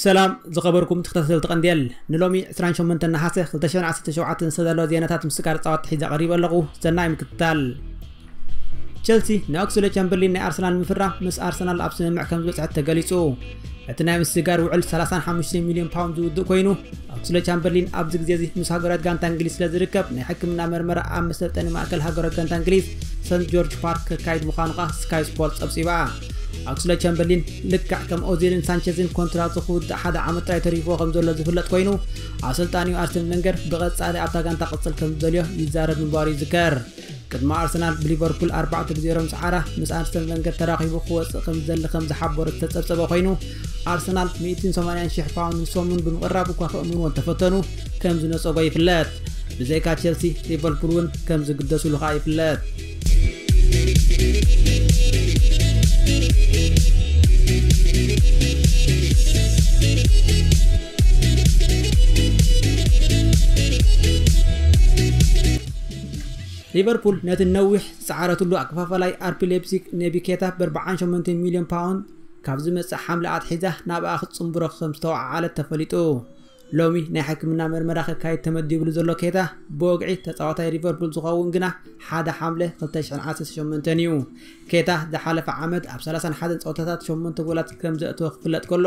ሰላም ዝኸበርኩም ተኸታተልቲ ቀንዴል ንሎሚ 28 ነሓሰ 2017 ዝተዳለወ ዜናታት ምስቃር ፃዋት ሒዘ ቀሪበ ኣለኹ ሰናይ ምክትታል ቸልሲ ንኦክስሌድ ቻምበርሊን ናይ ኣርሰናል ንምፍራ ምስ ኣርሰናል ኣብ ስምምዕ ከም ዝበፅሐት ተገሊጹ እቲ ናይ ምስጋር ውዕል 35 ሚልዮን ፓውንድ ዝውድእ ኮይኑ ኦክስሌድ ቻምበርሊን ኣብዚ ግዜ እዚ ምስ ሃገራት ጋንታ እንግሊዝ ስለ ዝርከብ ናይ ሕክምና መርመራ ኣብ መሰልጠኒ ማእከል ሃገራት ጋንታ እንግሊዝ ሰንት ጆርጅ ፓርክ ከካይድ ምዃኑ ኸኣ ስካይ ስፖርት ጸብጺባ ኣክስሌድ ቻምበርሊን ልክዕ ከም ኦዚልን ሳንቸዝን ኮንትራቱ ክውዳእ ሓደ ዓመት ጥራይ ተሪፍዎ ከም ዘሎ ዝፍለጥ ኮይኑ ኣሰልጣኒኡ ኣርሰን መንገር ብቐጻሊ ኣብታ ጋንታ ቅጽል ከም ዝደልዮ ይዛረብ ምንባሩ ይዝከር ቅድሚ ኣርሰናል ብሊቨርፑል ኣርባዕተ ብ0 ዝዓራ ምስ ኣርሰን ቨንገር ተራኺቡ ክወፅእ ከም ዝደሊ ከም ዝሓበሮ ዝተፀብፀበ ኮይኑ ኣርሰናል 180 ሽሕ ፓውንድ ንሶሙን ብምቕራብ እኳ ክእምንዎ እንተፈተኑ ከም ዝነፀጎ ይፍለጥ ብዘይካ ቸልሲ ሊቨርፑል እውን ከም ዝግደሱሉ ከዓ ይፍለጥ ሊቨርፑል ነቲ ነዊሕ ዝጸዓረትሉ ኣከፋፋላይ ኣርቢ ሌፕዚግ ኔቢ ኬታ ብኣርብዓን ሸሞንተን ሚልዮን ፓውንድ ካብ ዝመጽእ ሓምለ ኣትሒዛ ናብኣ ክትጽንብሮ ከም ዝተወዓዓለት ተፈሊጡ። ሎሚ ናይ ሕክምና መርመራ ከካይድ ተመዲብሉ ዘሎ ኬታ ብወግዒ ተጻዋታይ ሊቨርፑል ዝኸውን ግና ሓደ ሓምለ 2018 እዩ። ኬታ ዝሓለፈ ዓመት ኣብ 31 ጸወታታት 8 ጎላት ከም ዘእተወ ክፍለጥ ከሎ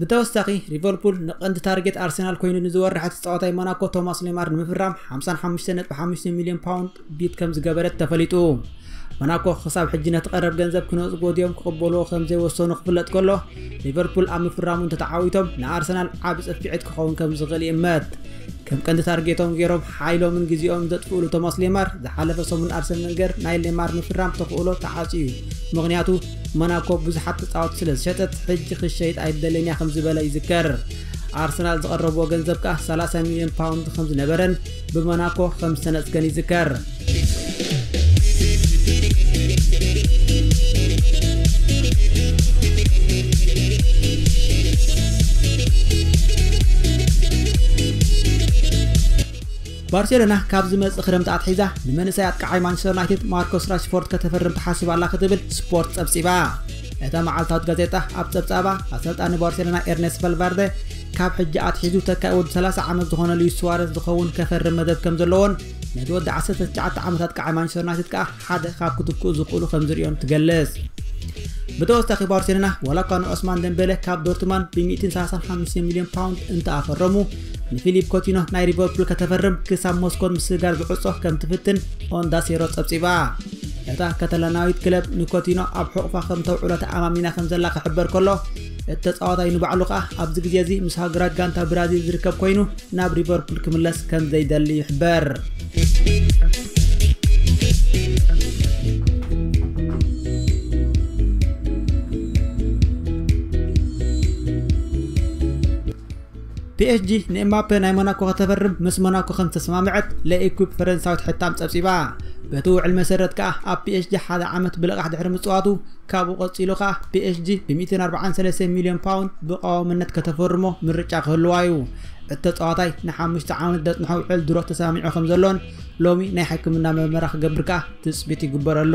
ብተወሳኺ ሊቨርፑል ንቐንዲ ታርጌት ኣርሰናል ኮይኑ ንዝወርሐ ተፃዋታይ ሞናኮ ቶማስ ሌማር ንምፍራም 55.5 ሚሊዮን ፓውንድ ቢድ ከም ዝገበረት ተፈሊጡ ሞናኮ ክሳብ ሕጂ ነቲ ቀረብ ገንዘብ ክነጽጎ ድዮም ክቕበልዎ ከም ዘይወሰኑ ክፍለጥ ከሎ ሊቨርፑል ኣብ ምፍራሙ እንተተዓዊቶም ንኣርሰናል ዓብ ጽፊዕት ክኸውን ከም ዝኽእል ይእመት ከም ቀንዲ ታርጌቶም ገይሮም ሓይሎምን ግዜኦምን ዘጥፍእሉ ቶማስ ሌማር፣ ዝሓለፈ ሰሙን ኣርሰን ቨንገር ናይ ሌማር ምፍራም ተኽእሎ ተዓጽዩ፣ ምኽንያቱ ሞናኮ ብዙሓት ተጻወትቲ ስለ ዝሸጠት ሕጂ ክትሸይጥ ኣይደልን'ያ ከም ዝበለ ይዝከር። ኣርሰናል ዝቐረብዎ ገንዘብ ከኣ ሰላሳ ሚልዮን ፓውንድ ከም ዝነበረን ብሞናኮ ከም ዝተነጽገን ይዝከር። ባርሴሎና ካብ ዝመጽእ ክረምቲ ኣትሒዛ ንመንእሰይ ኣጥቃዓይ ማንቸስተር ዩናይትድ ማርኮስ ራሽፎርድ ከተፈርም ትሓስብ ኣላ ክትብል ስፖርት ጸብጺባ እታ መዓልታዊት ጋዜጣ ኣብ ጸብጻባ ኣሰልጣኒ ባርሴሎና ኤርኔስት ቫልቫርደ ካብ ሕጂ ኣትሒዙ ተካኢ ወዲ 30 ዓመት ዝኾነ ልዩ ስዋረስ ዝኸውን ከፈርም መደብ ከም ዘለዎን ነቲ ወዲ ዓሰርተ ትሽዓተ ዓመታት ቀዓይ ማንቸስተር ዩናይትድ ከኣ ሓደ ካብ ክትክኡ ዝኽእሉ ከም ዝርእዮን ትገልጽ። ብተወሳኺ ባርሴሎና ዋላ እኳ ንዑስማን ደምቤለ ካብ ዶርትማን ብ135 ሚልዮን ፓውንድ እንተኣፈረሙ ንፊሊፕ ኮቲኖ ናይ ሊቨርፑል ከተፈርም ክሳብ ሞስኮን ምስግጋር ዝዕጾ ከም ትፍትን ኦንዳሴሮ ጸብጺባ እታ ከተላናዊት ክለብ ንኮቲኖ ኣብ ሕቑፋ ከም ተውዕሎ ተኣማሚና ከም ዘላ ክሕበር ከሎ እቲ ተጻዋታይ ንባዕሉ ከኣ ኣብዚ ግዜ እዚ ምስ ሃገራት ጋንታ ብራዚል ዝርከብ ኮይኑ ናብ ሊቨርፑል ክምለስ ከም ዘይደሊ ይሕበር። ፒኤስጂ ንኤምባፔ ናይ ሞናኮ ከተፈርም ምስ ሞናኮ ከም ዝተሰማምዐት ለኢኲፕ ፈረንሳዊት ሕታም ጸብጺባ። በቲ ውዕል መሰረት ከኣ ኣብ ፒኤስጂ ሓደ ዓመት ብልቓሕ ድሕሪ ምጽዋቱ ካብኡ ቀጺሉ ከኣ ፒኤስጂ ብ143 ሚልዮን ፓውንድ ብቐዋምነት ከተፈርሞ ምርጫ ክህልዋ'ዩ። እቲ ተጻዋታይ ንሓሙሽተ ዓመት ዘጽንሖ ውዕል ድሮ ተሰማሚዑ ከም ዘሎን ሎሚ ናይ ሕክምና መርመራ ክገብር ከኣ ትጽቢት ይግበረሉ።